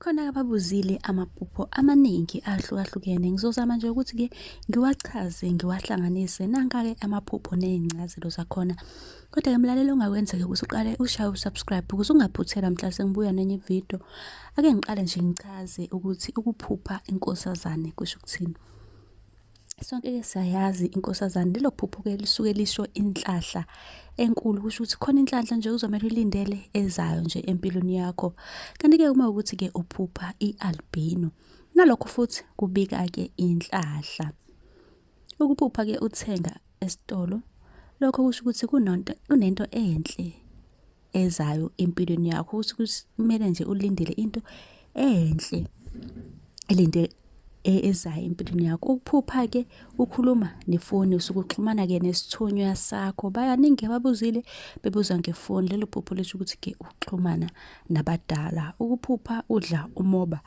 khona ababuzile amaphupho amaningi ahlukahlukene ngizozama nje ukuthi-ke ngiwachaze ngiwahlanganise nanka-ke amaphupho ney'ncazelo zakhona kodwa-ke mlaleli ongakwenzeka ukuthi uqale ushaye usubscribe ukuze ungaphuthelwa mhla sengibuya nenye ividiyo ake ngiqale nje ngichaze ukuthi ukuphupha inkosazane kusho ukuthini Sonke-ke siyayazi inkosazane lelo phupho-ke lisuke lisho inhlahla enkulu kusho ukuthi khona inhlanhla nje kuzomele ulindele ezayo nje empilweni yakho kanti-ke uma ukuthi-ke uphupha i-albino nalokho futhi kubika-ke inhlahla ukuphupha-ke uthenga esitolo lokho kusho ukuthi kunento enhle ezayo empilweni yakho ukuthi kumele nje ulindele into enhle elinde e, ezayo empilweni yakho ukuphupha ke ukhuluma nefoni usuke uxhumana ke nesithunywa sakho bayaningi ababuzile bebuza ngefoni lelo phupho lisho ukuthi ke uxhumana nabadala ukuphupha udla umoba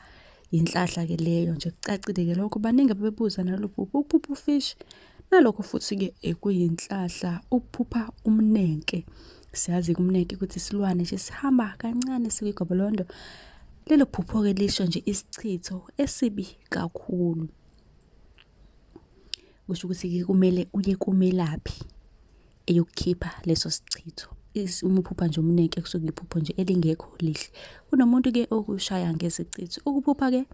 yinhlahla ke leyo nje kucacile ke lokho baningi abebebuza nalolu phupho ukuphupha ufish Nalokho futhi-ke ekuyinhlahla ukuphupha umnenke. Siyazi kumnenke ukuthi isilwane nje sihamba kancane sikwigobolondo. Lelo phupho-ke lisho nje isichitho esibi kakhulu. Kusho ukuthi-ke kumele uye kumelaphi eyokukhipha leso sichitho. Umuphupha nje umnenke kusuke iphupho nje elingekho lihle. Kunomuntu-ke okushaya ngesichitho. Ukuphupha-ke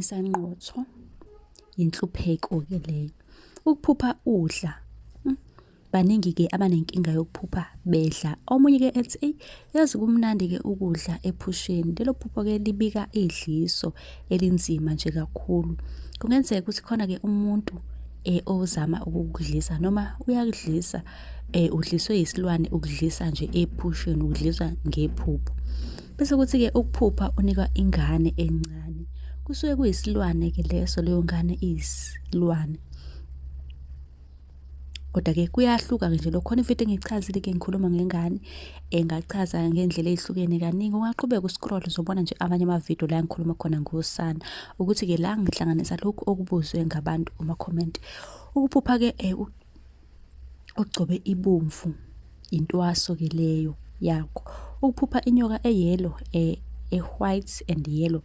isanqotho yinhlupheko-ke leyo ukuphupha udla hmm, baningi-ke abanenkinga yokuphupha bedla omunye-ke ethi eyi yazi kumnandi-ke ukudla ephusheni lelo phupho-ke libika idliso elinzima nje kakhulu kungenzeka ukuthi khona-ke umuntu um ozama ukukudlisa noma uyakudlisa eh udliswe isilwane ukudlisa nje ephusheni ukudliswa ngephupho bese kuthi ke ukuphupha unikwa ingane encane kusuke kuyisilwane ke leso leyo ngane iyisilwane kodwa ke kuyahluka ke nje lokho khona imfihlo engichazile ke ngikhuluma ngengane engachaza eh, ngendlela ezihlukene kaningi ungaqhubeka uscroll uzobona nje amanye ama video la ngikhuluma khona ngosana ukuthi ke la ngihlanganisa lokhu okubuzwe ngabantu kuma comment ukuphupha ke eh, ogcobe ibomvu intwaso ke leyo yakho ukuphupha inyoka eyelo e, e white and yellow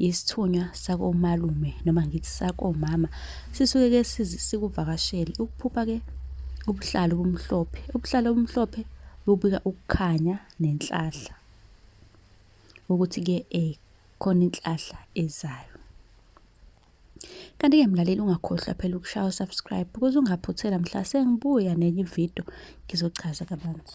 isithunywa sakomalume noma ngithi sakomama sisuke ke sikuvakashele ukuphupha ke ubuhlalo obumhlophe ubuhlalo obumhlophe bubika ukukhanya nenhlahla ukuthi ke eh khona inhlahla ezayo Kanti-ke mlaleli ungakhohlwa phela ukushaya usubscribe ukuze ungaphuthela mhla sengibuya nenye ividiyo ngizochaza kabanzi.